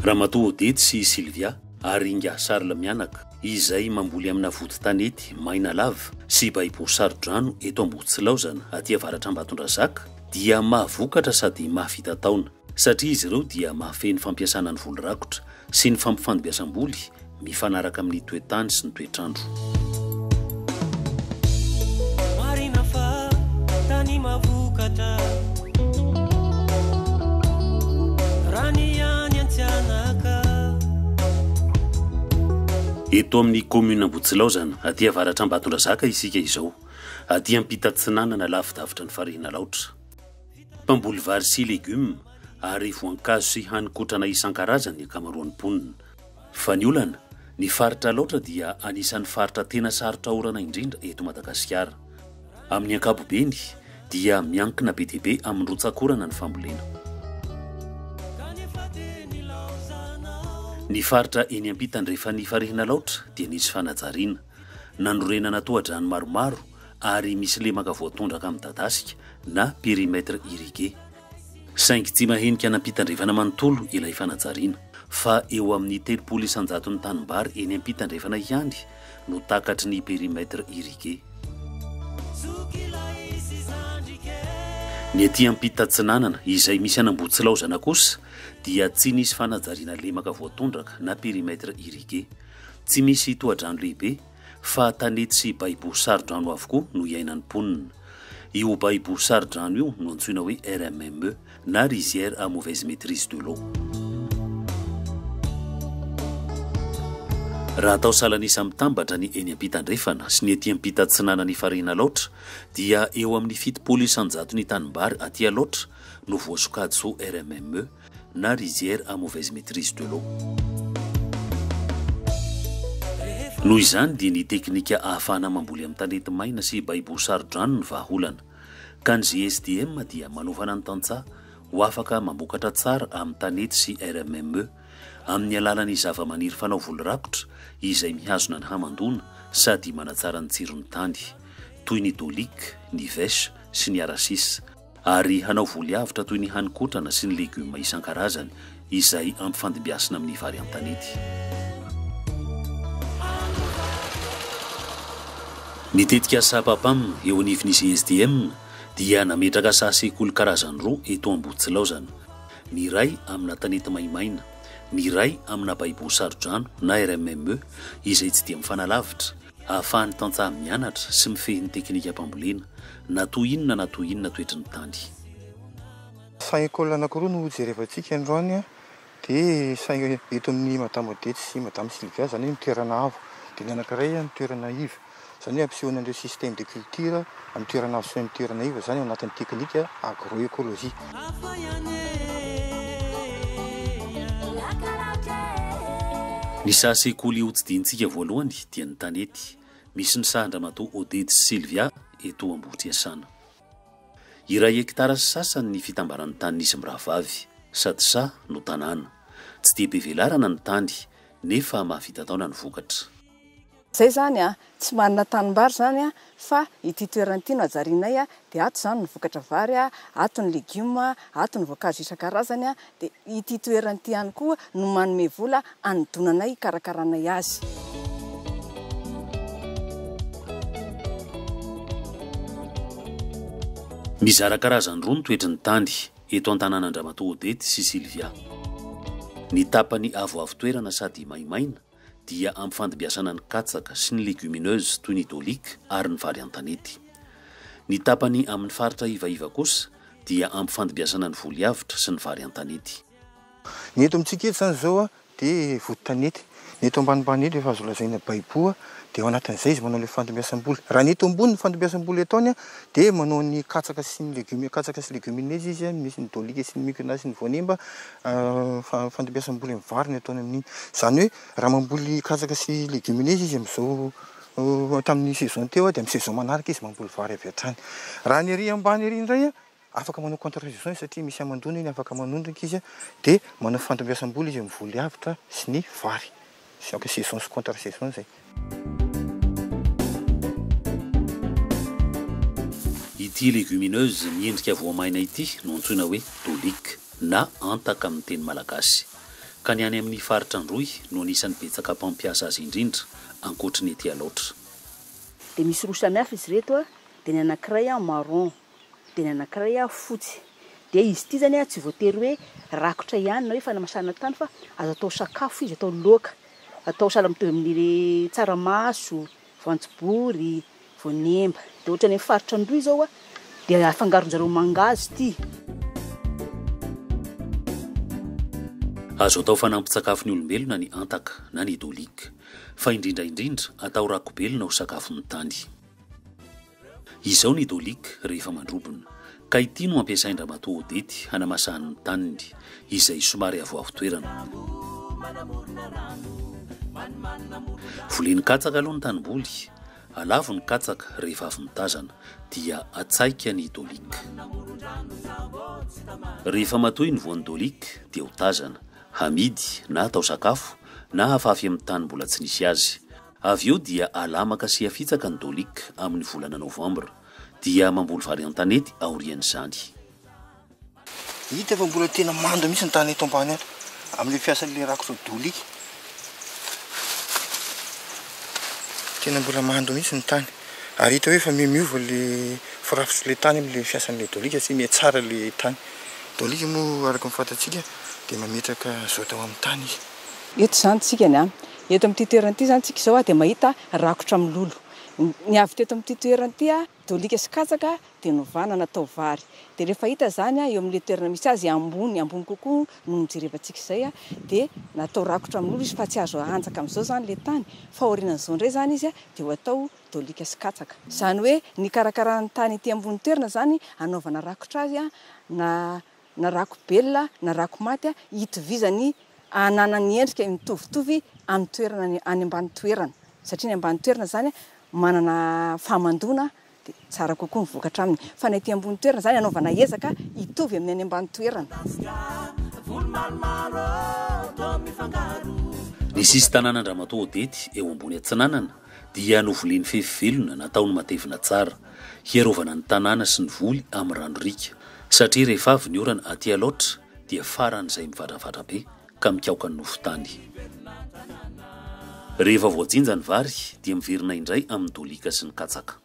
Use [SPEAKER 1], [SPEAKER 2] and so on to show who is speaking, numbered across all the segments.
[SPEAKER 1] Ramatoa Odette sy i Sylvia ary Ingahy Charles mianaka, izay mamboly amina vodin-tanety maina lava sy baiboa saro-drano eto Amboditsilaozana, aty avaratr'Ambatondrazaka, dia mahavokatra sady mahavita taona. satria izy ireo dia mahafehy ny fampiasana ny voly rakotra sy ny fampifandibiasam-boly mifanaraka amin'ny toe-tany sy ny toetr'andro.
[SPEAKER 2] Marina fa tany mavokatra raha ny any Antsianaka.
[SPEAKER 1] Eto amin'ny kaominina Ambohitsilaozana, aty avaratra Ambatondrazaka isika izao, aty ampita atsinanana lavidavitra ny farihin'Alaotra. Mpamboly vary sy legioma ary voankazo sy hanin-kotrana isan-karazany ny ankamaroan'ny mponina. Fa ny olana, ny faritra Alaotra dia anisan'ny faritra tena sarotra orana indrindra eto Madagasikara. Amin'ny ankapobeny dia miankina be dia be amin'ny rotsak'orana ny fambolena. Ny faritra eny am-pitandrefan'ny Farihin'Alaotra dia nisy fanajariana. Nanorenana tohadrano maromaro ary misy lemaka voatondraka midadasika na périmètre irrigué. Saingy tsy mahenika an'ampitandrefana manontolo ilay fanajariana, fa eo amin'ny telopolo isan-jaton'ny tanimbary eny ampitandrefana ihany no takatry ny périmètre irrigué. Ny aty ampita atsinanana, izay misy an'Ambohitsilaozana kosa, dia tsy nisy fanajariana lemaka voatondraka na périmètre irrigué. Tsy misy tohadrano lehibe, fa tany tsy baibo saro-drano avokoa no iainan'ny mponina. Io baibo saro-drano io no antsoina hoe RMME na Rizière à mauvaise maîtrise de l'eau. Raha atao salan'isa mitambatra ny eny am-pitandrefana sy ny ety am-pitatsinanan'i Farihin' Alaotra dia eo amin'ny fitopolo isan-jato ny tanimbary aty Alaotra no voasokajy ho RMME, na rizière à mauvaise maîtrise de l'eau. Noho izany dia ny teknika ahafahana mamboly amin'ny tanety maina sy baiboho saro-drano ny vahaolana. Ka ny GSDM dia manofana ny tantsaha ho afaka mambokatra tsara amin'ny tanety sy RMME amin'ny alalan'ny zavamaniry fanao voly rakotra izay mihazona ny hamandoana sady manatsara ny tsiron'ny tany, toy ny dolic, ny vèche sy ny aracis. ary hanao voly avotra toy ny hanin-kotrana sy ny legioma isan-karazany izay ampifandimbiasina amin'ny vary an-tanety. Ny tetikasa Papam eo anivon'ny GSDM dia nametraka saha sekoly karazany roa eto Ambohitsilaozana, ny iray amina tanety maimaina, ny iray amina baibo saro-drano na RMME izay tsy dia mifanalavitra, Ahafahan'ny tantsaha mianatra sy mifehy ny teknikam-pambolena na toa inona na toa inona toetry ny tany.
[SPEAKER 3] Saha école anankiroa no hojerevantsika androany a, dia saha eto amin'i Madame Odette sy Madame Sylvia, izany hoe ny toerana avo, dia ny anankiray ny toerana iva, izany hoe hampisehoana an'ireo systèmes de culture. amin'ny toerana azo fihaon'ny toerana iva izany ao anatin'ny teknika agroekolojia.
[SPEAKER 1] Ny saha sekoly hotsidihitsika voalohany dia ny tanety, misy ny sahan-dramatoa Oded sy Sylvia eto Ambohitriasana. Iray hekitara sy sasany ny fitambaran'ny tanin'izy mirahavavy, sady saha no tanàna. Tsy dia be velarana ny tany, nefa mahavita taona ny vokatra. Zay zany
[SPEAKER 4] a! Tsy manana tanimbary zany a, fa ity toerana ity no hajarianay a, dia ato zany ny vokatra vary a, ato ny legioma, ato ny voankazo isan-karazany a, dia ity toerana ity ihany koa no manome vola hanodonanay hikarakaranay azy.
[SPEAKER 1] Mizara karazany roa ny toetry ny tany eto an-tanàn'Andramatoa Odette sy Sylvia. Ny tapany avoavo toerana sady maimaina, dia ampy fandimbiasana ny katsaka sy ny legumineuses toy ny dolic ary ny vary an-tanety. Ny tapany amin' ny faritra ivaiva kosa dia ampy fandimbiasana ny voly avotra sy ny vary an-tanety. Ny eto
[SPEAKER 3] amintsika eto izany izao dia vody tanety. Ny eto ambanimbany eto efa azo lazaina baiboa dia ao anatin'izay izy manao ilay fandimbiasam-boly. Raha ny eto ambony ny fandimbiasam-boly ataony dia manao ny katsaka sy ny legumes, katsaka sy legumineuses izy, misy ny dolic sy ny micona sy ny voanemba. Fandimbiasam-bola amin'ny vary no ataony amin'iny. Izany hoe raha mamboly katsaka sy légumineuses izy amin'izao tamin'ny saison teo dia amin'ny saison manaraka izy mamboly vary avy hatrany. Raha ny ery ambany ery indray afaka manao contre saison izy satria misy hamandoana iny afaka manondraka izy dia manao fandimbiasam-bola izy amin'ny voly avotra sy ny vary. Chaque saison sy contre saison izay.
[SPEAKER 1] Ity légumineuse miendrika voamaina ity no antsoina hoe Tolic na antaka amin'ny teny malagasy. Ka ny any amin'ny faritra Androy no anisan'ny betsaka mpampiasa azy indrindra, ankoatry ny ety Alaotra. Dia
[SPEAKER 5] misy roa samihafa izy ireto, dia ny anankiray marron, dia ny anankiray fotsy. Dia izy ity izany tsy voatery hoe rakotra ihany na hoe fanamasahana tany fa azo atao sakafo izy, atao laoka, atao sahala mitovy amin'ny tsaramaso, voanjobory, voanemba. Dia ohatra any amin'ny faritra Androy izao dia afangaron-dry zareo mangahazo ity.
[SPEAKER 1] Azo atao fanampin-tsakafon'ny olombelona ny antaka na ny dolik, fa indrindra indrindra atao rakobelona ho sakafon'ny tany. Izao ny Dolik rehefa mandrobona, ka ity no ampiasain-dRamatoa Odety hanamasahany ny taniny, izay somary avoavo toerana. Voleny katsaka aloha ny tanimboly, alavo ny katsaka rehefa avy mitazana, dia atsaika ny Dolik. Rehefa matoy ny voan'ny Dolik dia ho tazana, hamidy na atao sakafo na hafafy amin'ny tany mbola tsy nisy azy. Avy eo dia alamaka sy afitsaka ny Dolik amin'ny volana novambra, dia mamboly vary an-tanety aorian'izany.
[SPEAKER 3] Hita fa mbola tena mando mihitsy ny tany eto ambany ato amin'ilay fiasan'ilay rakitra Dolik. Tena mbola mando mihitsy ny tany. Ary hita hoe efa mihamiova ilay firafitr'ilay tany amin'ilay fiasan'ilay Dolik satria mihatsara ilay tany. Dolik moa araka ny fantatsika dia mametraka azote ao amin'ny tany izy. Eto izany tsika
[SPEAKER 4] ny an. Eto amin'ity toerana ity izany tsika izao dia mahita rakotra milolo. Ny avy teto amin'ity toerana ity, dôlika sy katsaka dia novana natao vary. Dia rehefa hita izany eo amin'ilay toerana misy azy, ambony ambony kokoa noho ny jerevantsika izay, dia natao rakotra milolo izy fa tsy azo ahanjaka amin'izao izany ilay tany fa aorianan'izao indray izany izy dia ho atao dôlika sy katsaka. Izany hoe nikarakarana ny tany ety ambony toerana izany hanaovana rakotra azy na na rakobelona na rakomaty hitovizany hananany endrika mitovitovy amin'ny toerana any any ambany toerana satria ny ambany toerana zany manana fahamandoana de tsara kokoa ny vokatra aminy fa ny aty ambony toerana zany anaovana ezaka hitovy amin'ny any ambany toerana.
[SPEAKER 1] Ny sisin-tanàn'Andriamatoa Odety eo ambony Atsinanana dia novoliany fefy velona nataony matevina tsara, hiarovana ny tanàna sy ny voly amin'ny rano-riaka, satria rehefa avy ny orana aty Alaotra dia faran'izay mivadravadra be ka mikaoka ny nofon-tany. Rehefa voajinja ny vary dia miverina indray amin'ny dolika sy ny katsaka.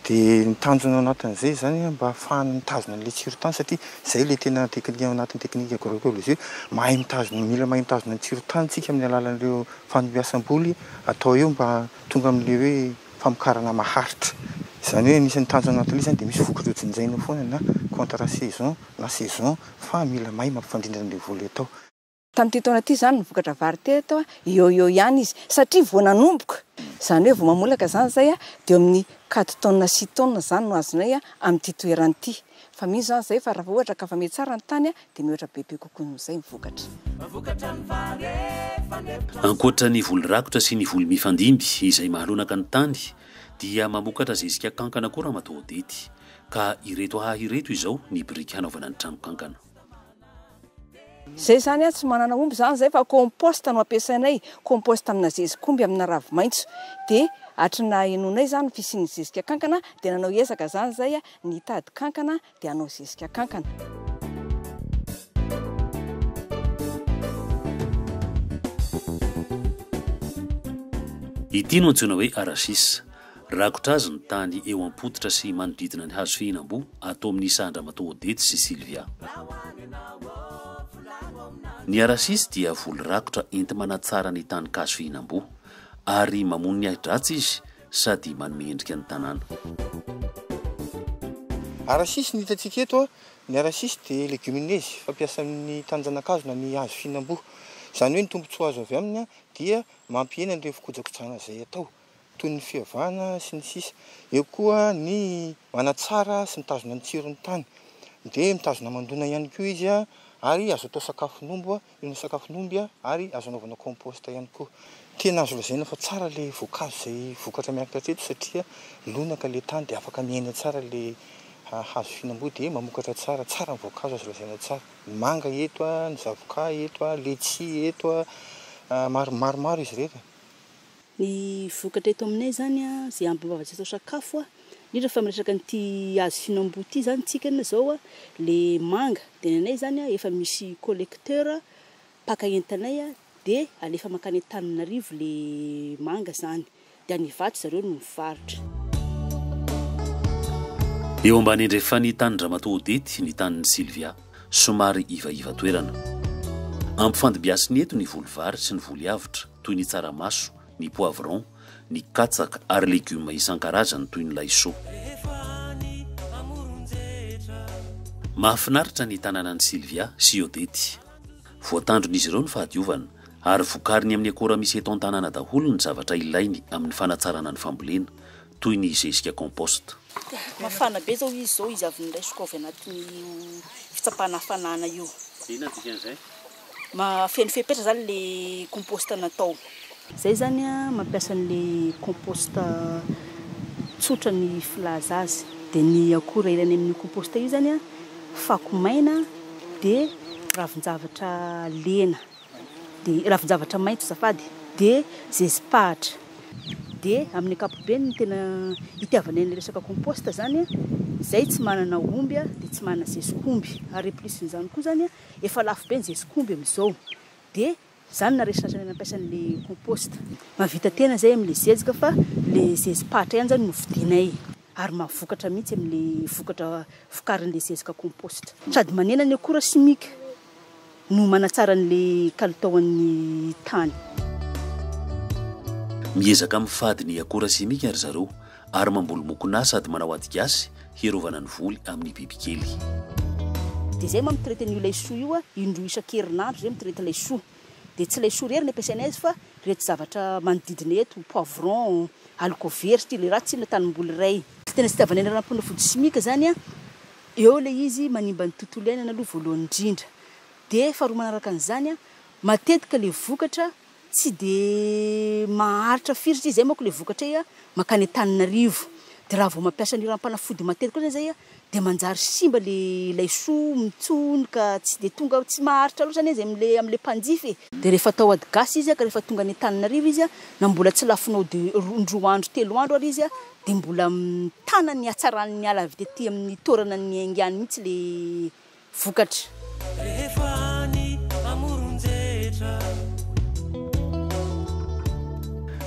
[SPEAKER 1] Dia
[SPEAKER 3] ny tanjona ao anatin'izay izany an, mba hahafahana mitazona an'ilay tsiron-tany satria izay ilay tena teknika ao anatin'ny teknika agroecologie, mahay mitazona, mila mahay mitazona ny tsiron-tany isika amin'ny alalan'ireo fandiasam-boly atao eo mba tonga amin'ilay hoe famokarana maharitra. Izany hoe anisan'ny tanjona ao anatin'ilay izany dia misy vokatra hojenjaina foana na contrat saison na saison fa mila mahay mampifandrindra an'ilay voly atao. Tamin'ity taona ity
[SPEAKER 4] izany no vokatra vary teto, eo ho eo ihany izy satria vao nanomboka, izany hoe vao mamolaka izany izay dia eo amin'ny quatre tonnes, six tonnes izany no azonay amin'ity toerana ity. Fa mino izany izahay fa raha vao ohatra ka fa miha tsara ny tany dia mihoatra bebe kokoa noho izay ny vokatra.
[SPEAKER 1] Ankoatra ny voly rakotra sy ny voly mifandimby izay mahalonaka ny tany dia mamokatra zezika kankana koa Ramatoa Odety ka ireto haha ireto izao ny biriky hanaovana ny trano kankana.
[SPEAKER 4] Zay zany tsy manana omby zany zay fa compost no ampiasainay, compost amina zezikomby amina ravimaintso de hatry ny nahenoanay zany ny fisian'ny zezika kankana de nanao ezaka zany zay ny hitady kankana de hanao zezika kankana.
[SPEAKER 1] Ity no antsoina hoe arachis. Rakotra azy ny tany eo am-pototra sy manodidina ny hazo fihinam-boa ato amin'ny saha an-dRamatoa Odety sy Sylvia. Ny arachis dia voly rakotra enti-manatsara ny tanink'hazo fihinam-boa ary mamono ny ahi-dratsy izy sady manome endrika ny tanàna.
[SPEAKER 3] Arachis ny hitantsika eto, ny arachis dia legumineuse fampiasa amin'ny tanin-janakazo na ny hazo fihinam-boa. Izany hoe ny tombontsoa azo avy aminy dia mampihena an'ireo fikojakojana izay atao. toy ny fiavana, sy ny sisa Eo koa ny manatsara sy mitazona ny tsiron'ny tany. Dia mitazona aman-doana ihany koa izy ary azo atao sakafon'omby, io no sakafon'omby ary azo anaovana compost ihany koa. Tena azo lazaina fa tsara ilay voankazo izay vokatra miankina hatreto satria lonaka ilay tany dia afaka miaina tsara ilay hazo fihinam-boa dia mamokatra tsara. Tsara ny voankazo azo lazaina tsara. Ny manga eto, ny zavokà eto, letchis eto, maromaro izy ireny. Ny
[SPEAKER 5] vokatra eto aminay zany a, ze amboarantsika atao sakafo a, indrindra fa miresaka an'ity hazo fihinamboa ity zany tsika ny zao a, le manga de ny anay zany a efa misy collecteur mpaka entanay a de alefa makany Antananarivo le manga zany de any Ivato zareo no mivarotra.
[SPEAKER 1] Eo ambany andrefan'ny tanin-dRamatoa Odety ny tanin'i Sylvia. Somary ivaiva toerana. Ampifandimbiasina eto ny voly vary sy ny voly avotra toy ny tsaramaso, ny poivron, ny katsaka ary legioma isan-karazany toy ny laisoa. Mahafinaritra ny tanànan'i Sylvia sy Odette. Voatandron'izy ireo ny fahadiovana ary vokariny amin'ny akora misy eto an-tanàna daholo ny zavatra ilainy amin'ny fanatsarana ny fambolena, toy ny zezika compost. Mafana be
[SPEAKER 5] zao izy zao izy avy niraisiko avy anatin'io fitsapana hafanana io. Inona dikan'izay?
[SPEAKER 1] Mahafeno
[SPEAKER 5] fepetra zany le compost natao. Zay zany a mampiasa an'le compost tsotra ny filaza azy de ny akora ilaina amin'io compost io zany a fako maina de ravin-javatra lena. dia ravin-javatra maitso zafady dia zezi-pahatra dia amin'ny ankapobeny ny tena itiavanay ny resaka compost zany zay tsy manana omby a dia tsy manana zezik'omby ary plus n'izany koa zany efa lafo be ny zezik'omby amin'izao dia zany naresina hatrany nampiasa an'le compost mavita tena zay amle zezika fa le zezi-pahatra ihany zany no vidinay ary mahavokatra mihitsy amle vokatra vokarin'le zezika compost sady manena ny akora simika no manatsara an'ilay kalitaon'ny tany.
[SPEAKER 1] Miezaka amin'ny fadin'ny akora simika ry zareo ary mamboly mokonà sady manao ady gasy hiarovana ny voly amin'ny bibikely.
[SPEAKER 5] Dia izay moa amin'ny traite an'io laisoa io, indroa isan-kerinandro izay mitraite laisoa. Dia tsy laisoa irery ny ampiasainay azy fa ireto zavatra manodidina eto, poivron, halikovera, satria ilay raha tsy inona tanimboly iray. Tena tsy itiavanay ny ranom-panafody simika izany. Eo ilay izy manimba ny tontolo iainana aloha voalohany indrindra. Dia faharoa manaraka an'izany, matetika ilay vokatra tsy dia maharitra firy satria izay manko ilay vokatra izay mankany Antananarivo. Dia raha vao mampiasa an'io ranom-panafody matetika io izany izahay dia manjary simba ilay laisoa, mitsony ka tsy dia tonga, tsy maharitra loatra anie izay amin'ilay amin'ilay mpanjifa e. Dia rehefa atao ady gasy izy ka rehefa tonga any Antananarivo izy na mbola tsy lafonao de indroa andro, telo andro ary izy Dia mbola mitana ny hatsaran' ny ala avy tety amin' ny toerana niaingany mihitsy ilay vokatra. Rehefa any amoron-jetra.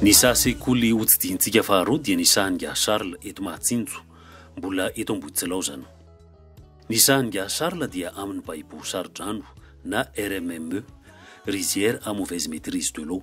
[SPEAKER 1] Ny saha sekoly hotsidihinttsika faharoa dia ny sahan'ingahy Charles eto Mahatsinjo, mbola eto Ambohitsilaozana. Ny sahan'ingahy Charles dia amin'ny baibo saro-drano na RMME, Rizière à mauvaise maîtrise de l'eau.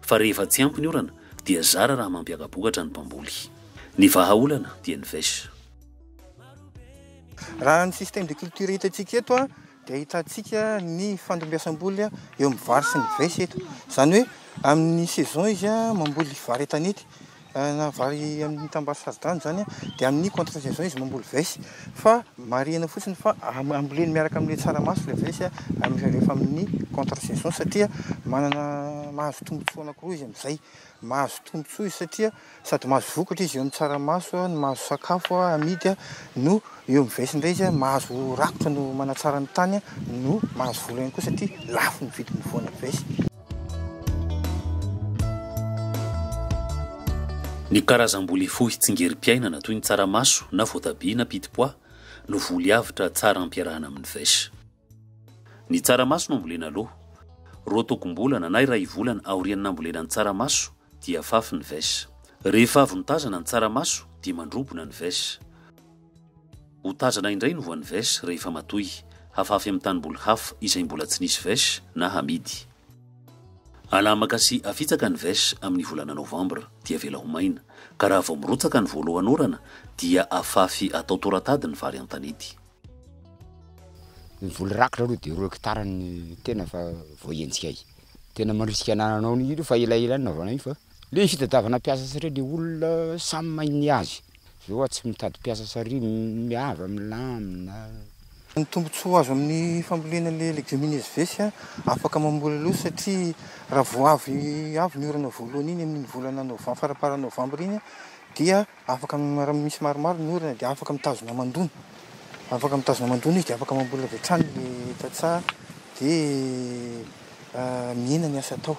[SPEAKER 1] fa rehefa tsy ampy ny orana dia zara raha mampiaka-bokatra ny mpamboly. Ny vahaolana dia ny vech.
[SPEAKER 3] Raha ny système de culture hitantsika eto dia ahitantsika ny fandimbiasam-boly eo amin'ny vary sy ny vech eto. Izany hoe amin'ny saison izy mamboly vary an-tanety. nahavaly amin'ny tanimbary saro-drano izany dia amin'ny contre saison izy mamboly vessy fa marihina fotsiny fa amboleny miaraka amin'ilay tsaramaso ilay vessy amin'izay rehefa amin'ny contre saison satria manana mahazo tombontsoa anankiroa izy amin'izay mahazo tombontsoa izy satria sady mahazo vokatra izy eo amin'ny tsaramaso no mahazo sakafo amidy no eo amin'ny vessy indray izy mahazo rakotra no manatsara ny tany no mahazo vola ihany koa satria lafo ny vidin'ny voana vessy
[SPEAKER 1] Ny karazam-boly hifohy tsingerim-piainana toy ny tsaramaso na voatabia na pit pois no voly avotra tsara ampiarahana amin'ny vaiche. Ny tsaramaso no ambolena aloha. Roa togom-bolana na iray volana aorian'ny nambolena ny tsaramaso dia afafy ny vaiche. Rehefa avy notazana ny tsaramaso dia mandrobona ny vaiche. Ho tazana indray ny voan'ny veche rehefa matoy, hafafy amin'ny tanimboly hafa izay mbola tsy nisy veche na hamidy. Alamaka sy afitsaka ny veche amin'ny volana novambra dia avela ho maina, ka raha vao mirotsaka ny voalohan'orana dia afafy atao toratady ny vary an-tanety.
[SPEAKER 6] Ny voly rakitra aloha dia roa hectare no tena fa voahenjika ahy. Tena mandrisika anananao an'io fa elaela no nanaovanay io fa le fitadiavana mpiasa satria le olona samy mahay ny azy. Jehovah tsy mitady mpiasa sary miava milamina. Ny
[SPEAKER 3] tombontsoa azo amin'ny fambolena le legiomineuses vs afaka mamboly aloha satria raha vao avy avy ny orana voalohany iny amin'iny volana novem faramparan'ny novambra iny dia afaka raha misy maromaro ny orana dia afaka mitazona aman-doana afaka mitazona aman-doana izy dia afaka mamboly avy hatrany le tantsaha dia mihena ny asa atao.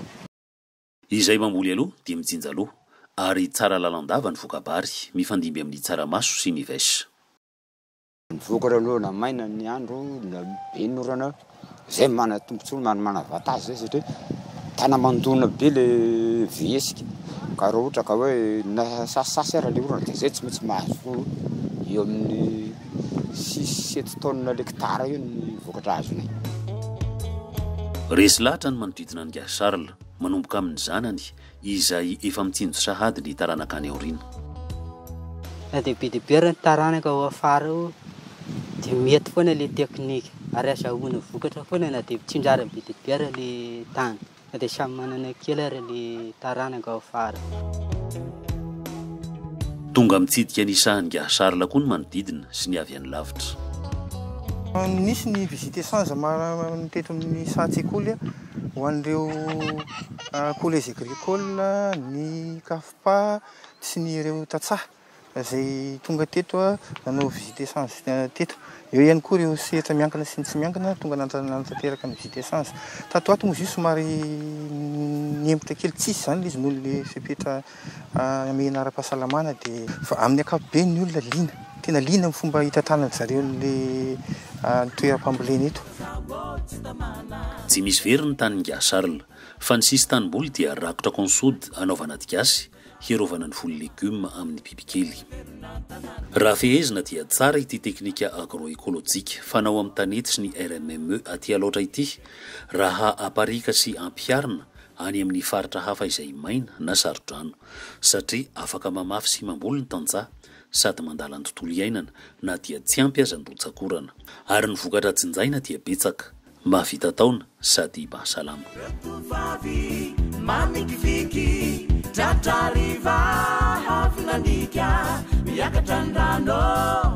[SPEAKER 3] Izay
[SPEAKER 1] mamboly aloha dia mijinja loha, ary tsara lalandava ny voka-bary, mifandimby amin'ny tsaramaso sy ny vaish.
[SPEAKER 6] Mivoaka aloha maina ny andro na be ny orana, izay manana tombotsoa na manana avantage izay satria tana mandona be le vihesika, ka raha ohatra ka hoe nasasasasy ary le orana dia izay tsy maintsy mahazo eo amin'ny six, sept tonnes l'hectare eo ny vokatra azonay. Resy
[SPEAKER 1] lahatra ny manodidina an'i Gasy Charles. manomboka amin'ny zanany izay efa mitsinjo sahady ny taranaka any aoriana.
[SPEAKER 7] Na dia be dia be ary ny taranaka ao afara ao dia mety foana ilay teknika ary azahoana vokatra foana na dia tsinjariny be dia be ary ilay tany na dia samy manana kely ary ilay taranaka ao afara.
[SPEAKER 1] Tonga mitsidika ny sahan'ingahy Charles koa ny manodidina sy ny avy any lavitra.
[SPEAKER 3] Nisy ny visite sans teto amin'ny saha-tsekoly Ho an'ireo collège agricole ny CAFPA sy ny ireo tantsaha izay tonga teto nanao visite échange teto. Eo ihany koa ireo sehatra miankina sy ny tsy miankina tonga nanatanteraka ny visite échange. Tato ho ato moa izy io somary nihemotra kely, tsy izy izany ilay izy noho ilay fepetra. Hamehana ara-pahasalamana dia amin'ny ankapobeny ny olona liana, tena liana amin'ny fomba hitantanan'ny zareo ny toeram-pambolena eto.
[SPEAKER 1] Tsy misy very ny tanin'i Nga Charles, fa ny sisin-tanimboly dia rakotra consoude hanaovana aty gasy, hiarovana ny voly legumes amin'ny bibikely. Raha fehezina dia tsara ity teknika agroekolojika fanao amin'ny tanety sy ny RMME aty Alaotra ity, raha aparihika sy ampiharina any amin'ny faritra hafa izay maina na saro-drano, satria afaka mamafy sy mamboly ny tantsaha sady mandala ny tontolo iainana na dia tsy ampy aza ny rotsak'orana. Ary ny vokatra jinjaina dia betsaka, mahavita taona sady mahasalama. Tovovavy manikiviky,
[SPEAKER 2] tratra hariva, avy nandika, miakatra ny rano.